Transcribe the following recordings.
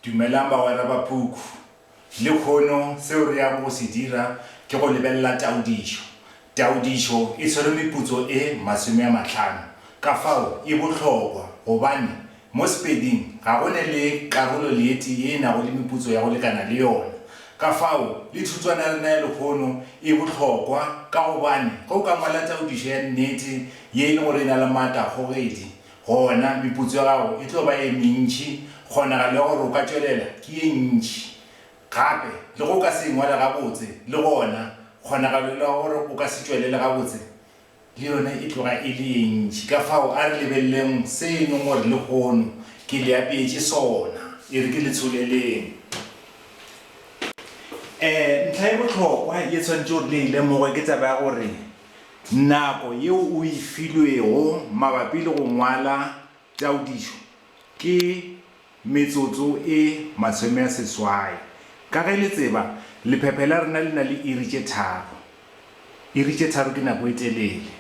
Dumelang bagwera ba puku. Lekhono seo re yago go se dira ke go lebelela taodišo. Taodišo e tshwere meputso e masome a matlhano. Ka fao e bohlokwa gobane mo Sepeding ga go ne le karolo leeti ye e nago le meputso ya go lekana le yona. Ka fao le thutswana ya rena ya lekhono e bohlokwa ka gobane ge o ka ngwala taodišo ya nnete ye e le gore e na le maatla a kgogedi, Gona, meputso ya gago e tlo ba ye mentši, kgonagalo ya gore o ka tšwelela ke ye ntši. Gape, le ge o ka se e ngwale gabotse, le gona, kgonagalo ya gore o ka se tšwelele gabotse le yona e tloga e le ye ntši. Kafao a re lebeleleng se e leng gore lehono ke le apeetše sona. E re ke le tsholeleng. Ee, ntlha ye bohlokwa ye tshwanetšego re le e lemoge ke taba ya gore Nako yeo o e filwego mabapi le go ngwala taodišo ke metsotso e masome-a-seswai. Ka ge le tseba, lephephe la rena le na le iri tše tharo. Iri tše tharo ke nako e telele.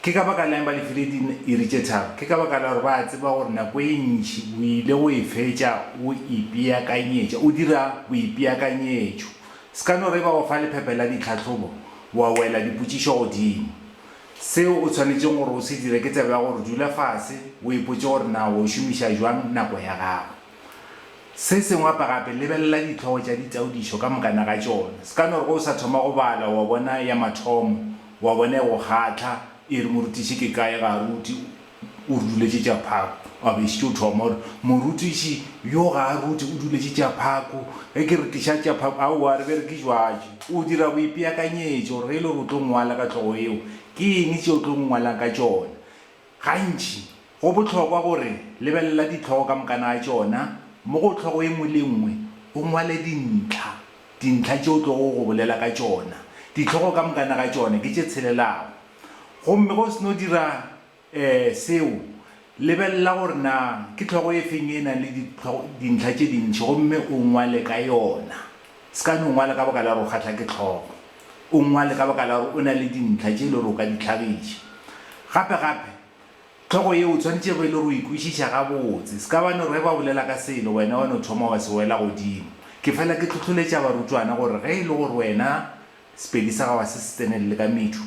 Ke ka baka la'ng ba le file diiri tše tharo? Ke ka baka la gore ba a tseba gore nako e ntši o ile go e fetša o ipeakanyetša, o dira boipeakanyetšo Sekanoriba o fa lephephe la ditlhahlobo, wa wela dipotšišo godimo. Seo o swanetšego gore o se dire ke tsebe ya gore dula fase o ipotše gore na o šomiša bjang nako ya gago. Se sengwe gape gape, lebelela dihlogo tša ditaodišo ka mokana ga tšona. Sekanoriba o sa thoma go bala wa bona ya mathomo, wa bona e go kgahla, e re, Morutiši, ke kae ga a rute? O re duletše tša phako. A be šetše o thoma, o re, Morutiši, yo ga a rute, o duletše tša phako. Ge ke re, Tliša tša phako, aowa, re be re ke jwatše. O dira boipeakanyetšo gore ge e le gore o tlo ngwala ka hlogo yeo, ke eng tše o tlo ngwalang ka tšona. Gantši, go bohlokwa gore, lebelela dihlogo ka mokana ga tšona, mo go hlogo e nngwe le e nngwe, o ngwale dintlha, dintlha tše o tlogo go bolela ka tšona. Dihlogo ka mokana ga tšona ke tše tshelelago. Gomme ge o se no dira seo, lebelela gore na ke tlhogo e feng e e nang le dintlha tše dintši gomme o ngwale ka yona. Se ka no ngwala ka baka la gore o kgahlwa ke tlhogo. O ngwale ka baka la gore o na le dintlha tše e le gore o ka di hlagiša. Gape-gape, tlhogo yeo o tshwanetše e be e le gore o e kwešiša gabotse. Se ka ba no re ge ba bolela ka selo, wena wa no thoma wa se wela godimo. Ke fela ke hlohloletša barutwana gore ge e le gore wena Sepedi sa gago ga se se tsenelele ka medu.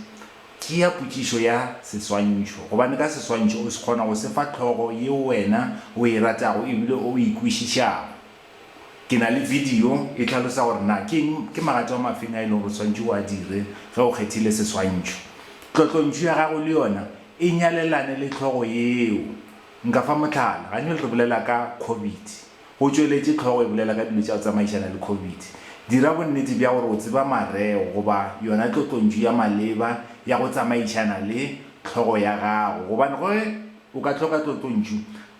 Tšea potšišo ya seswantšho, gobane ka seswantšho o se kgona go se fa hlogo yeo wena o e ratago e bile o e kwešišago. Ke na le bidio e hlalosa gore na ke eng, ke magato a mafeng a e lego gore o swanetše o a dire ge o kgethile seswantšho. Tlotlontšu ya gago le yona e nyalelane le hlogo yeo. Nka fa mohlala, ganyole re bolela ka Covid. O tšweletše, Hlogo e bolela ka dilo tša go tsamaišana le Covid. Dira bonnete bja gore o tseba mareo goba yona tlotlontšu ya maleba ya go tsamaišana le hlogo ya gago gobane ge o ka hloka tlotlontšu,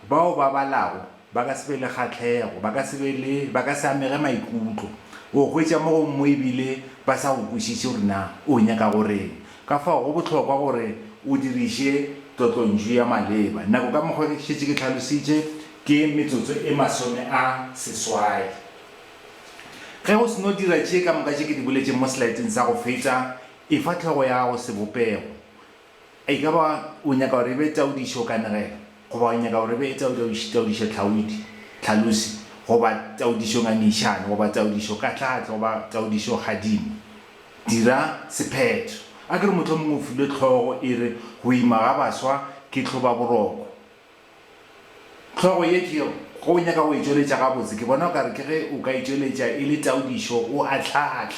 bao ba balago ba ka se be le kgahlego, ba ka se be le, ba ka se amege maikutlo, o hwetša mo gongwe e bile ba sa go kwešiše gore na o nyaka go reng. Ka fao go bohlokwa gore o diriše tlotlontšu ya maleba. Nako ka mokgwa ke šetše ke hlalositše, Ke metsotso e masome a seswai. Ge o seno dira tše ka moka tše ke di boletšeng mo selaeteng sa go fetša, efa hlogo ya gago sebopego. E ka ba o nyaka gore e be taodišo o kanegelo, goba o nyaka gore e be taodišo tlhaodi, tlhalosi, goba taodišo ngangišano, goba taodišo katlaatle, goba taodišo kgadimo. Dira sephetho. A ke re mohlomongwe o filwe hlogo e re Go Ima ga Baswa ke Hlobaboroko. Hlogo ye ke yeo, ge o nyaka go e tšweletša gabotse, ke bona o ka re ke ge o ka e tšweletša e le taodišo o ahlaahlaa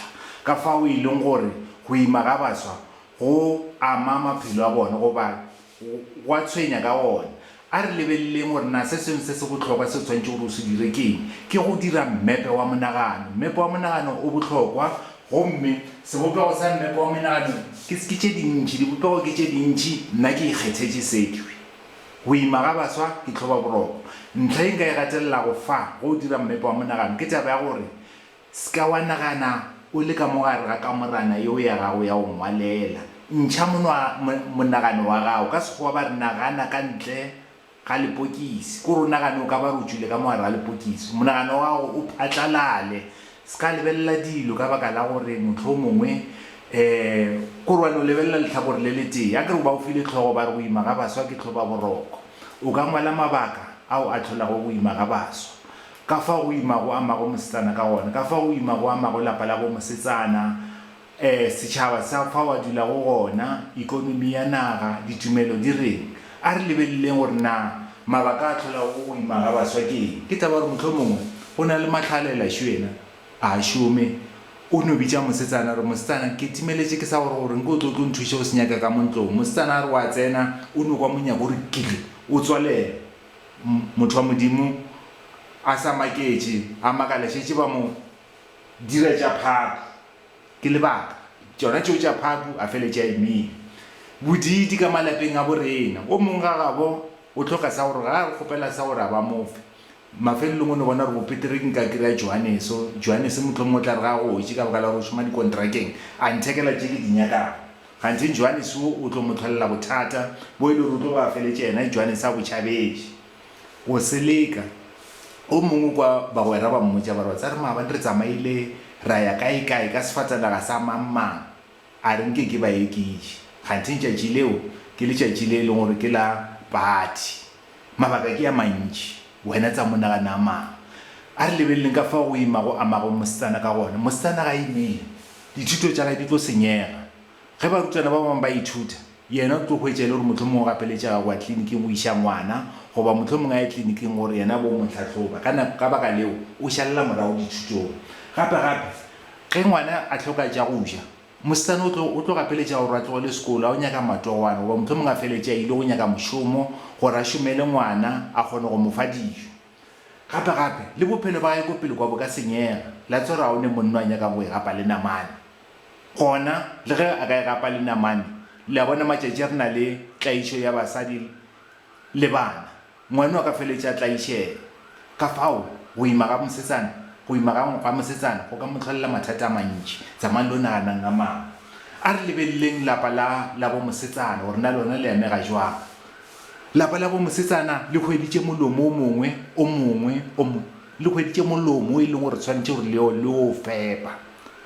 ka fao e leng gore go ima ga baswa go ama maphelo a bona goba go a tshwenya ka gona. A re lebeleleng gore na se sengwe se se bohlokwa se o swanetšego gore o se dire ke eng. Ke go dira mmepe wa monagano. Mmepe wa monagano o bohlokwa, gomme sebopego sa mmepe wa monagano ke tše dintši. Dibopego ke tše dintši, nna ke ikgethetše se. Go ima ga baswa ke tlhobaboroko. Ntlha ye nka e gatelelago fa go o dira mmepe wa monagano ke taba ya gore se ka wa nagana o le ka mo gare ga kamorana yeo ya gago ya go ngwalela. Ntšha monagano wa gago. Ka Sekgowa ba re nagana ka ntle ga lepokisi, ke gore o nagane o ka ba re o tšwile ka mo gare ga lepokisi, monagano wa gago o phatlalale. S'ka lebelela dilo ka baka la gore mohlomongwe korwane o lebelela lehlakore le letee. Akere o ba o file hlogo ba re go ima ga baswa ke hloba boroko. O ka ngwala mabaka ao a hlolago go ima ga baswa, ka fao go ima go amago mosetsana ka gona, ka fao go ima go amago lapa la bo mosetsana, Ee, setšhaba sa fao a dulago gona, ekonomi ya naga, ditumelo di reng. A re lebeleleng gore na mabaka a hlolago go ima ga baswa ke eng. Ke taba ya gore mohlomongwe go na le mahlalela šo yena a šome. O no bitša mosetsana a re, Mosetsana, ke timeletše ke sa gore gore nke o tlo o tlo nthuše go se nyaka ka mo ntlong. Mosetsana a re o a tsena, o no kwa monyako o re kiri, o tswalela. M, motho wa Modimo a sa maketše, a makala šetše ba mo dira tša phaphu. Ke lebaka tšona tšeo tša Phaku, a feletša a imile. Bodiidi ka malapeng a bo rena. O mong ga gabo o hloka sa gore ga a re kgopela sa gore a ba mo fe. Mafelelong o no bona gore bopetere ke nka ke re a Johaneso. Johanese mohlomong o tla re ga a gotše ka baka la gore o šoma dikontrakeng, a nthekela tše ke di nyakago. Kganthe Johanese wo o tlo mo tlholela bothata bo e le gore o tlo ba a feletša yena Johanese a bo tšhabetše. Go seleka, o mongwe kwa bagwera ba mmotša ba re, Wa tseba re maabane re tsamaile ra ya kaekae ka sefatanaga sa mang-mang, a re nke ke ba ekiše, kgantheng tšatši leo ke letšatši le e leng gore ke la phathi. Mabaka ke a mantši, wena tsa mo nagana a mang. A re lebeleleng ka fao go ima go amago mosetsana ka gona. Mosetsana ga a imile, dithuto tša gage di tlo senyega. Ge barutwana ba bangwe ba ithuta, yena o tlo hwetša e le gore mohlomongwe o gapeletšega go ya tliliniking go iša ngwana goba mohlomongwe a ye tliliniking gore yena a bo mo hlahloba. Ka nako, ka baka leo, o šalela morago dithutong. Gape, gape, ge ngwana a hloka tša go ja, mosetsana o tlo, o tlo gapeletšega gore a tlogele sekolo a yo nyaka matogwana goba mohlomongwe a feletše a ile go nyaka mošomo gore a šomele ngwana a kgone go mo fa dijo. Gape, gape, le bophelo ba gagwe ko pele kwa bo ka senyega. La tswa ra one monna a nyaka go e gapa le namane. Gona, le ge a ka e gapa le namane, le a bona, matšatši a re na le tlaišo ya basadi le bana, ngwano a ka feletša a tlaišega. Ka fao, go ima ga mosetsana, go ima ga, ga mosetsana go ka mo hlolela mathata a mantši. Tsamang lo naganang ka maano. A re lebeleleng lapa la, la bo mosetsana, gore na lona le amega jwang. Lapa la bo mosetsana le hweditše molomo o mongwe, o mongwe, o mo, le hweditše molomo o e leng gore swanetše gore le o, le o fepa.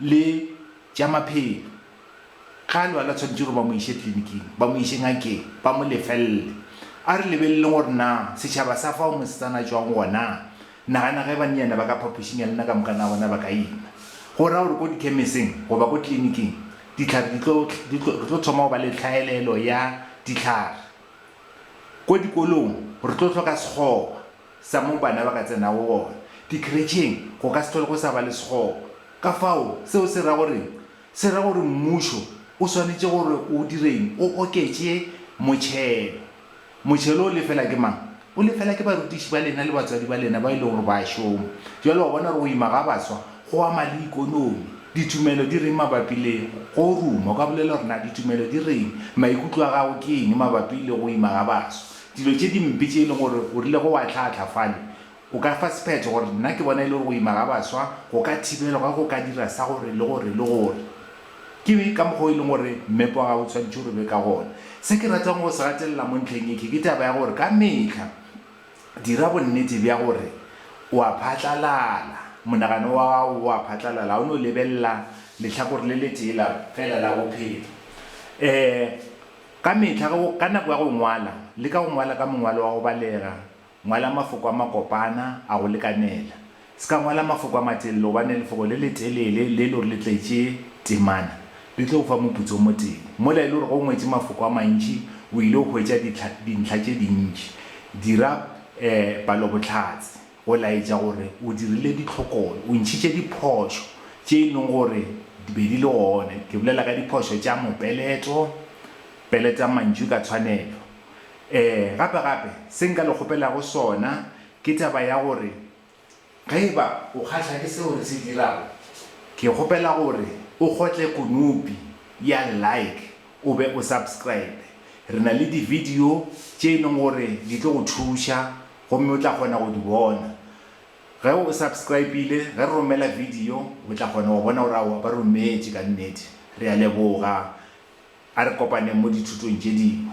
le tša maphelo. Ge a lwala, tshwanetse gore ba mo iše tliliniking, ba mo iše ngakeng, ba mo lefelele. A re lebeleleng gore na setšhaba sa fa mosetsana a tšwang gona. Nagana ge bannyane ba ka phapošing ya lena ka moka, na bona ba ka ima? Go ra gore ko dikhemeseng goba ko tliliniking dihlare di tlo, di tlo, re tlo thoma go ba le tlhaelelo ya dihlare. Ko dikolong re tlo hloka sekgoba. sa moo bana ba ka tsenago gona dikheretšheng go ka se tlhole go sa ba le sekgoba. Ka fao, seo se ra goreng? Se ra gore mmušo o swanetše gore o direng? O oketše motšhelo. Motšhelo o lefela ke mang? O lefela ke barutiši ba lena le batswadi ba lena bao e lego gore ba a šoma. Bjale wa bona gore go ima ga baswa go ama le ikonomi. Ditumelo di reng mabapi le go ruma? O ka bolela gore na ditumelo di reng? Maikutlo a gago ke eng mabapi le go ima ga baswa? Dilo tše dimpe tše e lego gore o rilego wa hlahla fale, o ka fa sephetho gore, Nna ke bona e le gore go ima ga baswa go ka thibelwa ge go ka dira sa gore le gore le gore. Ke be ka mokgwa o e leng gore mmepe wa gago o tshwanetše gore o be ka gona. Se ke ratago go se gatelela mo ntlheng ye ke ke taba ya gore ka mehla dira bonnete bja gore o a phatlalala, monagano wa gago o a phatlalala, ga o no lebelela lehlakore le letee la fela la bophelo. Um. Ka mehla ge o, ka nako ya go ngwala, leka go ngwala ka mongwalo wa go balega, ngwala mafoko a makopana, a go lekanela. Se ka ngwala mafoko a matelele gobane lefoko le letelele le e le gore le tletše temana le tlo go fa moputso o motee. Mola e le gore ge o ngwetše mafoko a mantši o ile go hwetša dihla, dintlha tše dintši, dira, eh, palobohlatse. Go laetša gore o dirile ditlhokolo, o ntšhitše diphošo tše e lego gore di be di le gone, ke bolela ka diphošo tša mopeleto, peletang mantšu ka tshwanelo. Ee, gape gape, se nka le kgopelago sona ke taba ya gore ge e ba o kgahlwa ke seo re se dirago, ke kgopela gore o kgotle konopi ya Like o be o subscribe. Re na le dividio tše e lego gore di tlo go thuša Gomme o tla kgona go di bona. Ge o subscribile, ge re romela video, o tla kgona go bona gore aowa ba rometše ka nnete. Re a leboga. A re kopaneng mo dithutong tše dingwe.